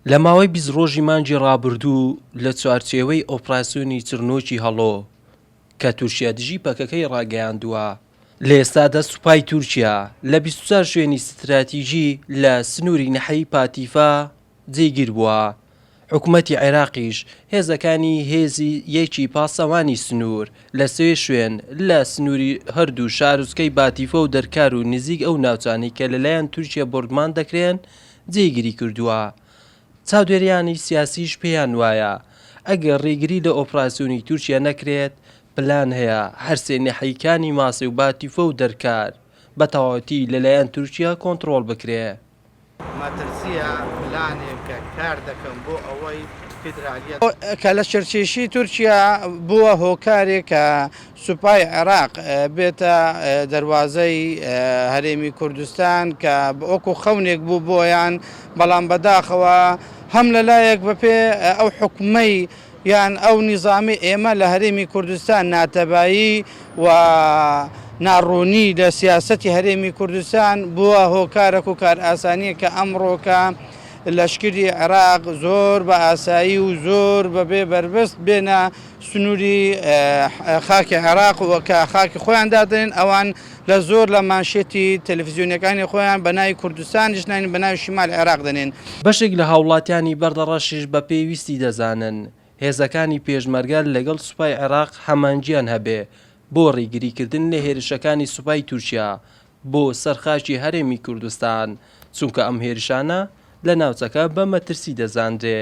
لە ماوەی بیست ڕۆژی مانگی ڕابردوو لە چوارچێوەی ئۆپراسیۆنی چرنۆکی هەڵۆ کە تورکیا دژی پەکەکەی ڕاگەیاندووە، لە ئێستادا سوپای تورکیا لە بیست و چوار شوێنی ستراتیژی لە سنووری ناحیەی پاتیفا جێگیر بووە. حکومەتی عێراقیش هێزەکانی هێزی یەکی پاسەوانی سنوور لە سێ شوێن لە سنووری هەردوو شارۆچکەی باتیفە و دەرکار و نزیک ئەو ناوچانەی کە لەلایەن تورکیە بۆردمان دەکرێن جێگیری کردووە. چاودێریانی سیاسیش پێیان وایە ئەگەر ڕێگری لە ئۆپراسیۆنی تورکیە نەکرێت پلان هەیە هەر سێ ناحیەکانی ماسێ و باتیفە و دەرکار بە تەواوەتی لەلایەن تورکیە کۆنتڕۆڵ بکرێت. مەترسییە پلانێکە کار دەکەم بۆ ئەوەی فیدرالییەت. کە لە شرکیشی تورکیا بووە هۆکارێک کە سوپای عێراق بێتە دەروازەی هەرێمی کوردستان کە وەکو خەونێک بوو بۆیان بەڵام بەداخەوە هەم لەلایەک بەپێ ئەو حوکمەی یان ئەو نیزامەی ئێمە لە هەرێمی کوردستان ناتەبایی و ناڕوونی لە سیاسەتی هەرێمی کوردستان بووە هۆکارەک و کارئاسانییەک کە ئەمڕۆکە لەشکری عێراق زۆر بە ئاسایی و زۆر بەبێ بەربەست بێنە سنووری خاکی عێراق و کە خاکی خۆیان دادەنێن ئەوان لە زۆر لە مانشێتی تەلەفزیۆنیەکانی خۆیان بە ناوی کوردستانیش ناین بە ناوی شمالی عێراق دەنێن. بەشێک لە هاوڵاتیانی بەردەڕەشیش بە پێویستی دەزانن هێزەکانی پێشمەرگە لەگەڵ سوپای عێراق هەمانگیان هەبێ بۆ ڕیگریکردن لە هێرشەکانی سوپای تورکیا بۆ سەر خاکی هەرێمی کوردستان چونکە ئەم هێرشانە لە ناوچەکە بە مەترسی دەزانرێ.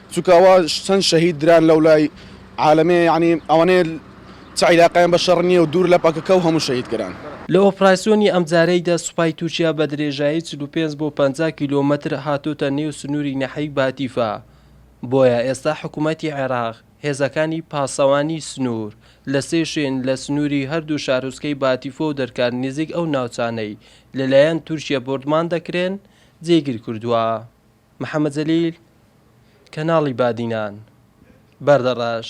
چونکە ئەوە چەند شەهید دران لەولای عالەمێ یەعنی ئەوەنەیە چ عیلاقەیان بە شەڕ نیە و دوور لە پەکەکە و هەموو شەهید کران. لە ئۆپراسیۆنی ئەمجارەیدا سوپای تورکیا بە درێژایی چل و پێنج بۆ پەنجا کیلۆمەتر هاتۆتە نێو سنووری نەحەی باتیفا، بۆیە ئێستا حکوومەتی عێراق هێزەکانی پاسەوانی سنوور لە سێ شوێن لە سنووری هەردوو شارۆچکەی باتیفۆ و دەرکار نزیک ئەو ناوچانەی لەلایەن تورکیە بۆردمان دەکرێن جێگیر کردووە. محەمەد جەلیل، کەناڵی بادینان، بەردەڕەش.